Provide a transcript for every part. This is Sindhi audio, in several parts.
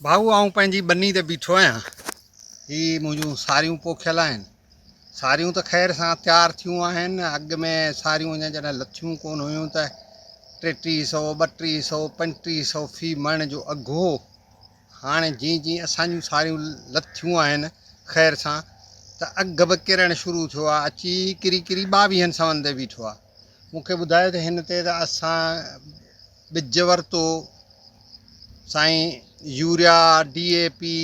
ڀائو آئون پنهنجي ٻني تي بيٺو آهيان هي منهنجون ساريون پوکيل آهن ساريون ته خير سان تيار ٿيون آهن اڳ ۾ ساريون اڃا جڏهن لٿيون ڪون هيون ته ٽيٽيهه سو ٻٽيهه سو پنجٽيهه سو في مڻ جو اگهه هو هاڻي جيئن جيئن اسان جون ساريون لٿيون آهن خير سان ته اگهه به ڪرڻ شروع ٿيو آهي اچي ڪري ڪري ٻاويهن سون تي بيٺو آهي مون کي ٻڌايو ته هن تي ته اسان ٻج ورتو سائين يوريا ڊي اي پي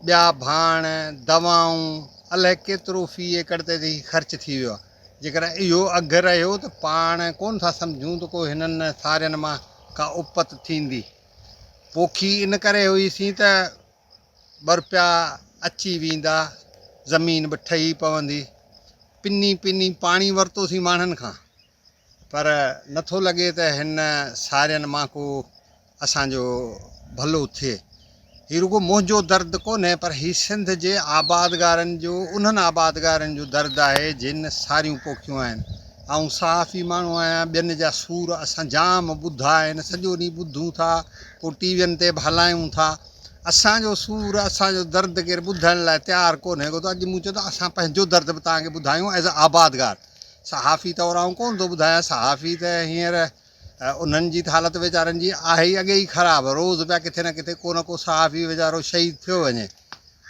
ٻيا ڀاڻ دوائون الائي ڪيترو في ايڪڙ تي هي خرچ ٿي ويو آهي جيڪڏهن اهو اگهه رهيو ته پاڻ ڪونه ٿا سمجهون ته ڪو هنن سارين مان ڪا اپت ٿيندي پوکي ان ڪري هئي سين ته ٻه روپيا اچي ويندا زمين به ٺهي پوندي پني پني پاڻي ورتو سين ماڻهن کان پر نه ٿو لڳي ته هن سارين مان ڪو اسان جو ڀلو ٿئي. هي رڳو منهنجو درد ڪونهي پر هي سنڌ جي آبادگارن جو انهن آبادگارن جو درد آهي جن ساريون پوکيون آهن. آئون صحافي ماڻهو آهيان ٻين جا سور اسان جام ٻڌا آهن سڄو ڏينهن ٻڌون ٿا پوء ٽي وين تي به هلايون ٿا اسان جو سور اسان جو درد ڪير ٻڌڻ لاء تيار ڪونهي ڪو ته اڄ مون چيو ته اسان پنهنجو درد به توهان کي ٻڌايون ايز آبادگار صحافي طور آئون ڪونه ٿو ٻڌايان، صحافي ته هينئر انهن جي ته حالت ويچارن جي آهي ئي اڳي ئي خراب، روز پيا ڪٿي نه ڪٿي ڪو نه ڪو صحافي ويچارو شهيد ٿيو وڃي.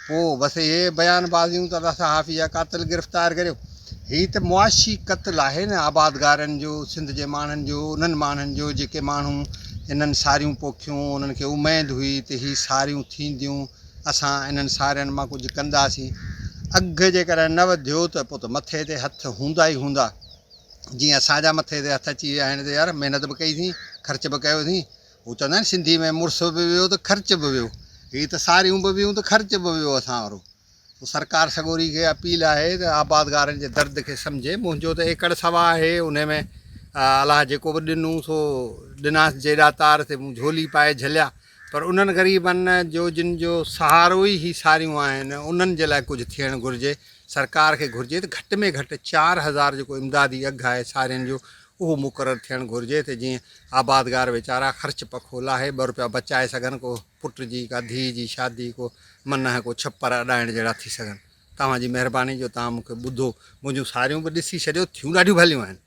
پوء بس اهي بيان بازيون ته الله صحافي جا قاتل گرفتار ڪريو. هي ته معاشي قتل آهي نه آبادگارن جو، سنڌ جي ماڻهن جو، انهن ماڻهن جو جيڪي ماڻهو انهن ساريون پوکيون، انهن کي اميد هئي ته هي ساريون ٿينديون، اسان انهن سارين مان ڪجهه ڪنداسين. اگهه جيڪڏهن نه وڌيو ته پوء ته مٿي تي هٿ هوندا ئي هوندا. جيئن اسان جا مٿي تي هٿ اچي ويا آهن ته يار محنت به ڪئيسين، خرچ به ڪيوسين. هو چوندا آهن سنڌي ۾ مڙس به ويو ته خرچ به ويو. هي ته ساريون به ويون ته خرچ به ويو اسان وارو. سو سرڪار سڳوري کي اپيل آهي ته آبادگارن جي درد کي سمجهي. منهنجو ته ايڪڙ سوا آهي انهي ۾ الله جيڪو به ڏنو سو ڏناس جيڏا تار تي مون جهولي پائي جهليا. پر انهن غريبن جو جن جو سهارو ئي هي ساريون آهن انهن جي لاء ڪجهه ٿيڻ گهرجي، سرڪار کي گهرجي ته گهٽ ۾ گهٽ چار هزار جيڪو امدادي اگهه آهي سارين جو اهو مقرر ٿيڻ گهرجي ته جيئن آبادگار ويچارا خرچ پکو لاهي ٻه روپيا بچائي سگهن ڪو پٽ جي ڪا ڌيء جي شادي ڪو منهه ڪو ڇپر اڏائڻ جهڙا ٿي سگهن توهان جي مهرباني جو توهان مون کي ٻڌو منهنجون ساريون به ڏسي ڇڏيو ٿيون ڏاڍيون ڀليون آهن.